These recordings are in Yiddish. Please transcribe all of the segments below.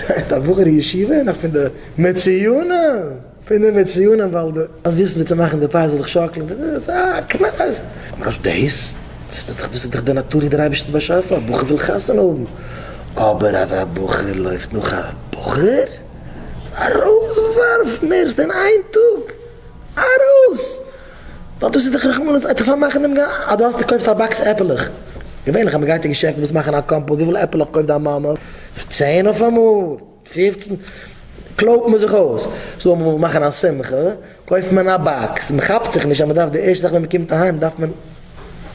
עכט א בחור ישיבה און נאך פון די מצוינים פון די מצוינים ווייל די אז וויסן ווי צו מאכן די פאי זאל זיך שאקלען די די א קנס ממש דעיס דאס איז דאך די נאטור ווי דער אייבערשטער האט באשאפן א בחור וויל חתונה האבן אבער אז א בחור לויפט נאך א בחור ארויסווארפן ערשט אין איין טאג ארויס. ווייל דאס איז דאך רחמנות עד כדי פארמאכן דעם גאס, אז דו האסט נישט קויפסט א באקס עפעלעך, געווענליך אז מען גייט אין געשעפטן וואס מאכן א קאמפאוט, וויפיל עפעלעך קויפט דיין מאמע? צען אויפאמאל? פופצן? קלויבט מען זיך אויס, סאו אז מען וויל מאכן א שמחה קויפט מען א באקס, מען כאפט זיך נישט אז מען דארף די ערשטע זאך ווען מען קומט אהיים דארף מען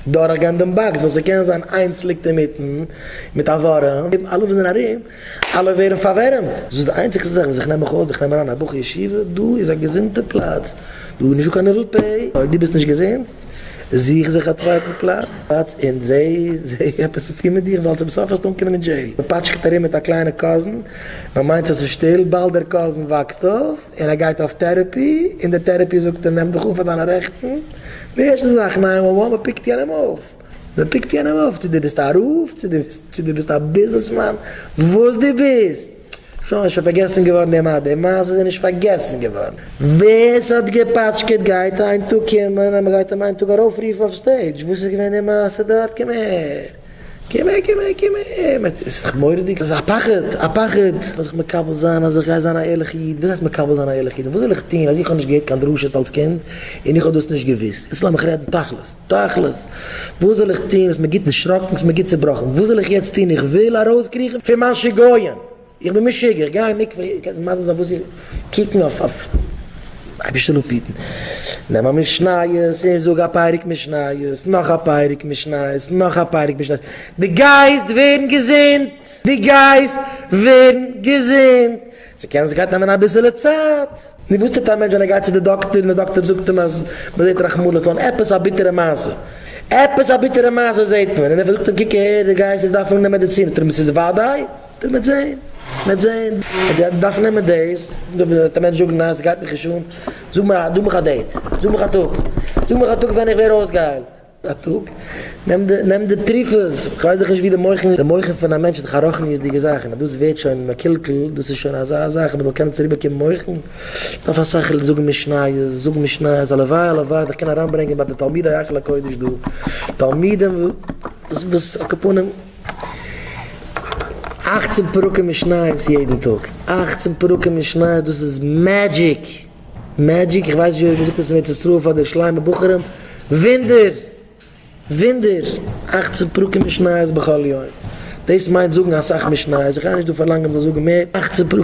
דורכגיין דעם באקס, ווייל ס'קען זיין איינס ליגט אינמיטן מיט א ווארעם, אלע וואס זענען ארום. אלע ווערן פארווערעמט, דאס איז די איינציגסטע זאך וואס איך נעם מיך אויס, איך נעם אריין א בחור ישיבה, דא איז א געזונטע פלאץ, דא איז נישטא קיין ניבול פה, אויב דו ביסט נישט געזונט, זוך זיך א צווייטן פלאץ, און זעה זעה עפעס צו טון מיט דיך, ווייל צום סוף וועסטו אנקומען אין דזשעיל. מען פאטשקעט ארום מיט א קליינע קאזין, מען מיינט אז עס איז שטיל, באלד דער קאזין וואקסט אויף, און ער גייט אויף טערעפי, און דער טערעפי זאגט אים נעם דיך אן פאר דיינע רעכטן, די ערשטע זאך, נײַן וואן וואן, מען פיקט יענעם אויף. מען פיקט יענעם אויף צו דו ביסט א רב צו דו ביסט א ביזנעסמאן וואס דו ביסט, שוין איז שוין פארגעסן געווארן די מעשה, די מעשה איז נישט פארגעסן געווארן, ווער ס'האט געפאטשקעט גייט איין טאג קומען אז מען גייט אים איין טאג ארויפרופן אויף סטעידזש, וואס איז געווען די מעשה דארט, קום אהער קום אהער קום אהער קום אהער, עס איז דאך מורא'דיג, עס איז א פחד א פחד, מען זיך מקבל זיין אז איך גיי זיין א ערליכע איד, וואס הייסט מקבל זיין א ערליכע איד, וואס זאל איך טון אז איך האב נישט געהערט קיין דרשות אלץ קינד און איך האב דאס נישט געוואוסט, יעצט לאמיך רעדן תכלית. תכלית, וואס זאל איך טון? ס'איז מיר גוט דערשראקן, ס'איז מיר גוט צעבראכן, וואס זאל איך יעצט טון? איך וויל ארויסקריכן פון מיין שיגעון, איך בין משוגע, איך גיי אין מקווה, איר קענט מיר מסביר זיין וואס איך, קוקן אויף, אייבערשטער אפהיטן, נעם א משניות און זאג א פרק משניות, נאך א פרק משניות, נאך א פרק משניות, דו גייסט ווערן געזונט! דו גייסט ווערן געזונט! ס'קען זיך גייט נעמען אביסעלע צייט. נו וואס טוט א מענטש ווען ער גייט צו די דאקטער און די דאקטער זאגט אים אז מען זעט רחמנות אן עפעס א ביטערע מעשה. עפעס א ביטערע מעשה זעט מען און ער זאגט אים קוק אהער דו גייסט יעצט דארפן נעמען מעדיצין זאגט ער אים עס איז וודאי דו מעט זען מעט זען אז דו דארפסט נעמען דאס דו וועט א מענטש זאגן ניין ס'גייט מיך נישט אן זאג מיר א דא מיך א דעיט זאג מיך א טאג זאג מיך א טאג ווען איך ווער אויסגעהיילט. א טאג, נעם די נעם די תרופות, כ'ווייס דאך נישט ווי די מוחין, די מוחין פון א מענטש איז דאך א רוחניות'דיגע זאך, און אז דאס ווערט שוין מקולקל, דאס איז שוין אזא זאך, מ'זאל קענען צוריק באקומען מוחין, דארף א שכל זאגן משניות, זאג משניות, הלוואי הלוואי זיך קענען אריינברענגען ביי די תלמידי היכל הקודש דא, תלמידים וואס וואס על כפנים אכצן פרקים משניות יעדן טאג, אכצן פרקים משניות דאס איז מעדזשיק! מעדזשיק, איך ווייס נישט ווי אויך מ'זאגט עס אין ארץ ישראל פאר די שליימע בחורים, וואונדער! וואונדער! אכצן פרקים משניות בכל יום, דאס מיינט זאגן אסאך משניות, איך גיי נישט דא פארלאנגען מ'זאל זאגן מער, אכצן פרקים.